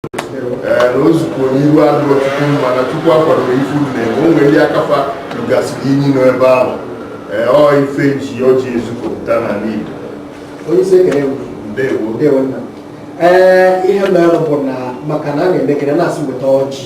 na nzukọ n'iru adịrọ chukwu mma na chukwu akwadorọ ife unu na-eme o nwere ndị aka fa rugasịrị inyi nọ ebe ahụ ee ọ ife e ji ọjị ezukọpụta n'ala Igbo onye isi ekele m ndewo ndewo nna ee ihe mere bụ na maka na a na-emekarị na-asị weta ọjị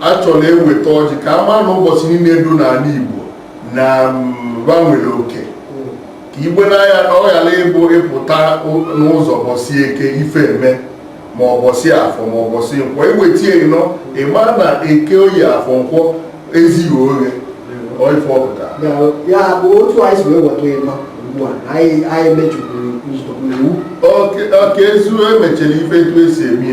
a chọrọ eweta ọjị ka a mara na ụbọsị niile dị n'ala Igbo na ba nwere mm, oke ka ibe n'anya na ọ ghara ịbụ ị pụta n'ụbọsị eke ife eme ma ụbọsị afọ ma ụbọsị nkwọ e weta ịnọ ị ma na eke oye afọ nkwọ ezighi oghe ife ọ pụta ya bụ otu anyị si wee weta ịnọ ugbu a anyị mejupụrụ iwu ọka ezu emechara ife etu e si eme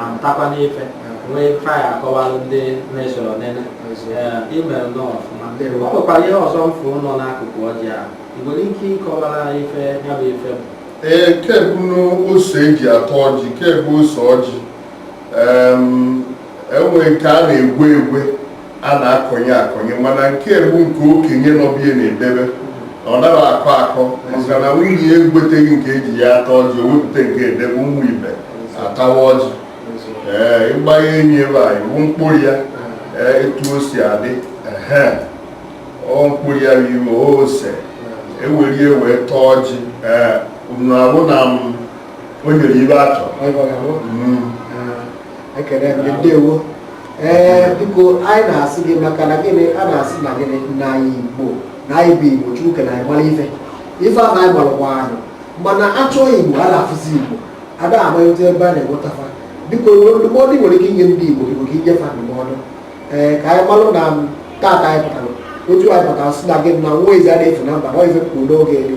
amụtakwa n'ife nwee ife anyị akọwalụ ndị na-esoro nene i mere nnọọ ọfụma o nwekwara ihe ọzọ m fụ nọ n'akụkụ ọjị a ị nwere ike ịkọwara ife ya bụ ife bụ ee kebụ n'ose e ji ata ọjị kebụ ose ọjị e nwee nke a na-egwe egwe a na-akọnye akọnye mana nke bụ nke okenye n'obi ya na-edebe ọ naghị akọ akọ maka na nwunye ya egweteghị nke e ji ya ata ọjị o wepụta nke e debe ụmụ ibe atawa ọjị ee ịgba ya enyi ebe a ị fụ mkpụrụ ya ee etu o si adị ehe ọ mkpụrụ ya bụ ife ose e were ya wee taa ọjị ee unu ahụ na m o nyere ibe atọ Ọ gwara m. Mm. ekele gị ndewo ee biko anyị na-asị gị maka na gịnị a na-asị na gịnị na anyị igbo na anyị bụ igbo chukwu kere anyị mara ife ife ahụ anyị gbalụkwa anyị mana a chọọ igbo a na-afụzi igbo a na-amalite ebe a na-enweta fa biko ndụmọdụ ị nwere ike inye ndị igbo biko ka i nye fa ndụmọdụ ee ka anyị malụ na taata anyị pụtara otu anyị pụtara sị na gị na nwa eze a na-efu na mba na ọ ife e kwuru n'oge elu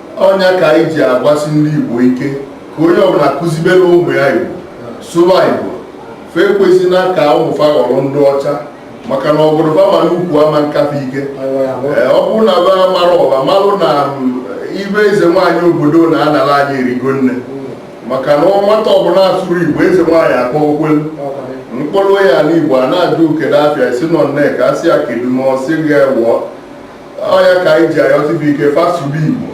ọ ya ka anyị ji agwasi ndị Igbo ike ka onye ọbụla kụzibere ụmụ ya Igbo sụba Igbo fa ekwezina ka ụmụ fa ghọrọ ndị ọcha maka na ọ bụrụ fa ma n'ukwu ama nkafe ike ọ bụrụ na ba mara ọba malụ na mm, ibe eze nwaanyị obodo na-anara anyị erigo nne maka na nwata ọbụla asụrụ Igbo eze nwaanyị akpọ okwelu mkpụrụ ya n'Igbo a na-ajụ kedu afa ya sị nọ nneka a sị ya kedu ma ọ sị ga ewụọ ọ ya ka anyị ji ayọsi igbo ike fa sụba igbo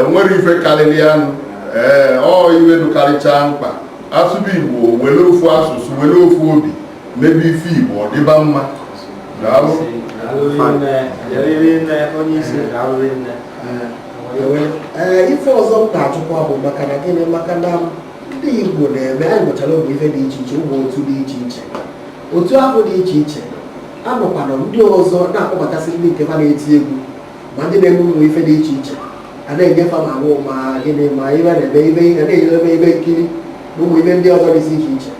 o nwere ife karịrị anụ ee ọ ife dụkarịchaa mkpa a sụba igbo were ofu asụsụ were ofu obi mebe ife igbo ọ dịba mma daalụ ee ife ọzọ m na-ajụkwa bụ maka na gịnị maka na ndị igbo na-eme anyị nwechara ụmụ ife dị iche iche ụmụ otu dị iche iche otu ahụ dị iche iche anọkwanụ ndị ọzọ na-akpọbatasị ndị nke ha na-eti egwu ma ndị na-eme ụmụ ife dị iche iche a na-enye fa ma ahụ ma gịnị ma ibe na-eme ibe ihe na-enyere eme ibe nkiri na ụmụ ibe ndị ọzọ dịzi iche iche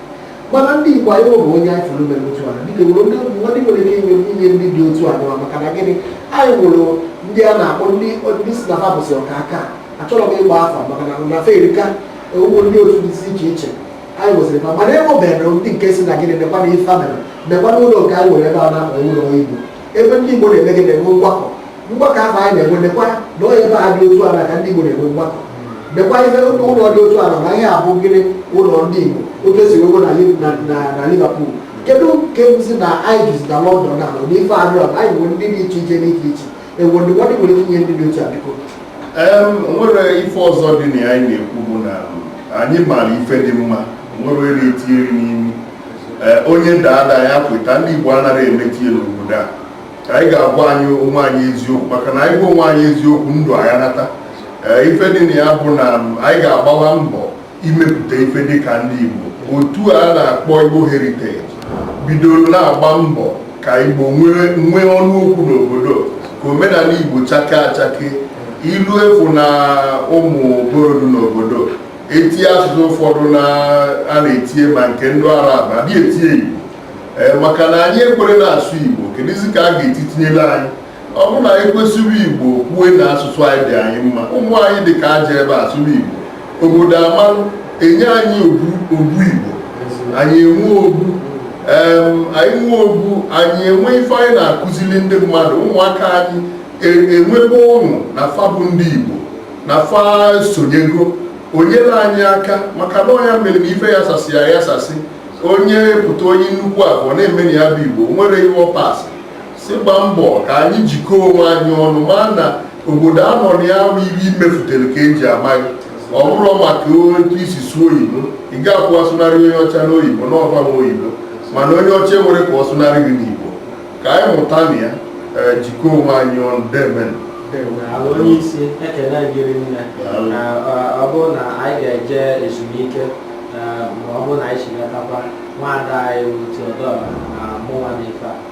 mana ndị Igbo anyị bụ onye anyị fụrụ mere otu a dịka nwere ndị ndị nwere ike inye inye ndị dị otu a nụwa maka na gịnị anyị nwere ndị a na-akpọ ndị ndị si na ha bụsị ọka aka achọrọ m ịgba afa maka na na fa erika ụmụ ndị otu dịzi iche iche anyị nwesịrị fa mana enwebeghị ndị nke si na gịnị nekwa na ife mere nekwa na ụlọ nke anyị nwere ebe a na-akpọ ụlọ igbo ebe ndị igbo na-eme gị na-enwe mgbakọ mgbakọ ahụ anyị na-enwe nekwa na onye ebe a dị otu ala ka ndị igbo na-enwe mgbakọ nekwa ife ụlọ dị otu ala na ihe a bụ gịnị ụlọ ndị igbo otu e si nwego na liverpool kedu nke si na anyị jizi na london na na ife adịrọ anyị nwere ndị dị iche iche n'iche iche e nwe ndụmọdụ nwere ike inye ndị dị otu a biko o nwere ife ọzọ dị na ya anyị na-ekwu bụ na anyị maara ife dị mma nwere eri e tinyere n'imi onye da ada ya kweta ndị Igbo anaghị emeti ya n'obodo a anyị ga-agwa anyị onwe anyị eziokwu maka na anyị gwa onwe anyị eziokwu ndụ anyị nata ife dị na ya bụ na anyị ga-agbawa mbọ imepụta ife dịka ndị Igbo otu a na-akpọ Igbo Heritage bidoro na-agba mbọ ka Igbo nwee ọnụ okwu n'obodo ka omenala Igbo chake achake ilu efu na ụmụ obodo n'obodo etie asụsụ ụfọdụ na a na-etie ma nke ndị Arab adị etie Igbo Eh, maka na anyị ekwere na-asụ Igbo kedụzi ka a ga-esi tinyere anyị ọ bụrụ na anyị kwesịrị igbo kwue na asụsụ anyị dị anyị mma ụmụ anyị dị ka a jee ebe a sụrụ igbo obodo amalụ enye anyị obu obu igbo anyị enwe obu anyị nwe obu anyị enwe ife anyị na-akụziri ndị mmadụ ụmụaka anyị e, enwebe ọṅụ na fa bụ ndị igbo na fa sonyego nyere anyị aka maka na ọ nya mere na ife ya sasị ya ya sasị onye pụta onye nnukwu afọ na-emeni ya bụ igbo nwere ihe ọ pasị si gba mbọ ka anyị jikọọ onwe anyị ọnụ ma na obodo a nọ na ya bụ ife i mefutere ka e ji ama gị ọ bụrọ maka otu i si sụọ oyibo ị ga-akwụ asụnarị onye ọcha n'oyibo na ọ fa nwe oyibo mana onye ọcha enwerọ ka ọ sụnarị gị n'igbo ka anyị mụta na ya eh, jikọọ onwe anyị ọnụ deemenụ onye isi ekele gị rinne ọ bụrụ na anyị ga-eje ezumike eh, ma ọ bụrụ na anyị si natakwa nwaada anyị bụ Theodora na mụnwa na ife a